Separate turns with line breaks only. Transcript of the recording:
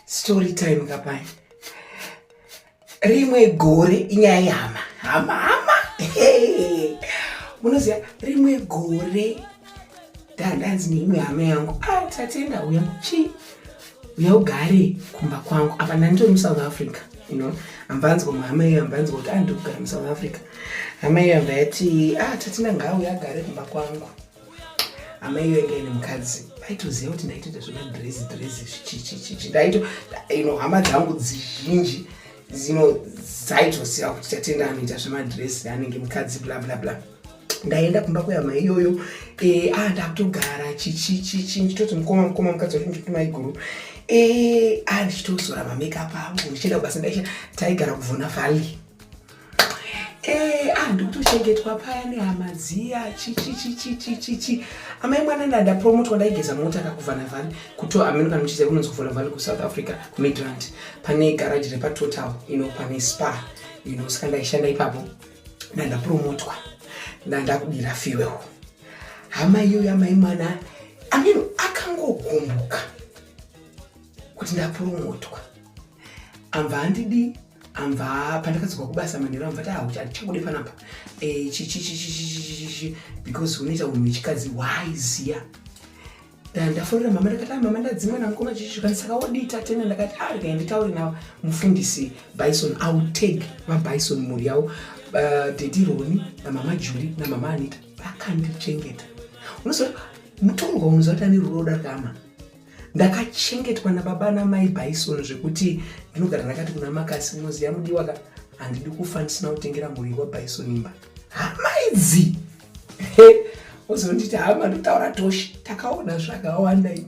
story time kapani rimwe gore inyaya yehama hama hama munoziva rimwe gore ndandanzi neimwe hama yangu ah, tatenda uya chii uya ugare kumba kwangu apa ndandiri musouth africa you know ambanzwa muhama iyo ambanzwa kuti andiri ah, kugara musouth africa hama iyo ambati ah, tatenda ngaauya agare kumba kwangu amai venge ine mukadzi vaitoziva kuti ndaitoita zvemadresi dresi zvichichichichi ndaito ino hama dzangu dzizhinji zino dzaitoziva kuti tatenda anoita zvemadresi anenge mukadzi bla bla bla ndaenda kumba kwehama iyoyo e, a ah, ndakutogara chichichichi ndichitoti mukoma mukoma mukadzi wacho ndichikuti maiguru e, a ah, ndichitozora mamakeup angu ndichienda kubasa ndaisha taigara kuvhuna valley Eh, ah, ndikutochengetwa paya nehama dziya chichichichichichichi amai mwana ndada promotwa ndaigeza mota kakuvhana vhani kuto ameno kana muchiziva kunonzi kuvhana vhani kusouth africa kumidrand pane garaji repatotal ino pane spa ino saka ndaishanda ipapo ndandapromotwa ndandakudira fuel hama iyoyo amai mwana ameno akangogumbuka kuti ndapromotwa ambva handidii amva pandakadzokwa kubasa manheru amva taahuchachakudi panapa eh, chichichichichichichi because unoita unhu wechikadzi waiziya ndaforera mama ndakati ah, mama ndadzimwa namukoma chichikani saka wodii tatena ndakati ah, rega nditaure navo mufundisi bison autag vabison mhuri yavo eh, dedi roni namama juli namama anita vakandichengeta unoziva mutorwa unoziva kuti ane ruroda kama ndakachengetwa nababa namai bison zvekuti ndinogara ndakati kuna makasi unoziva mudiwa ka handidi kufa ndisina kutengera mhuri wabison imba hamaidzi ozonditi hama ndotaura toshi takaona zvakawanda ini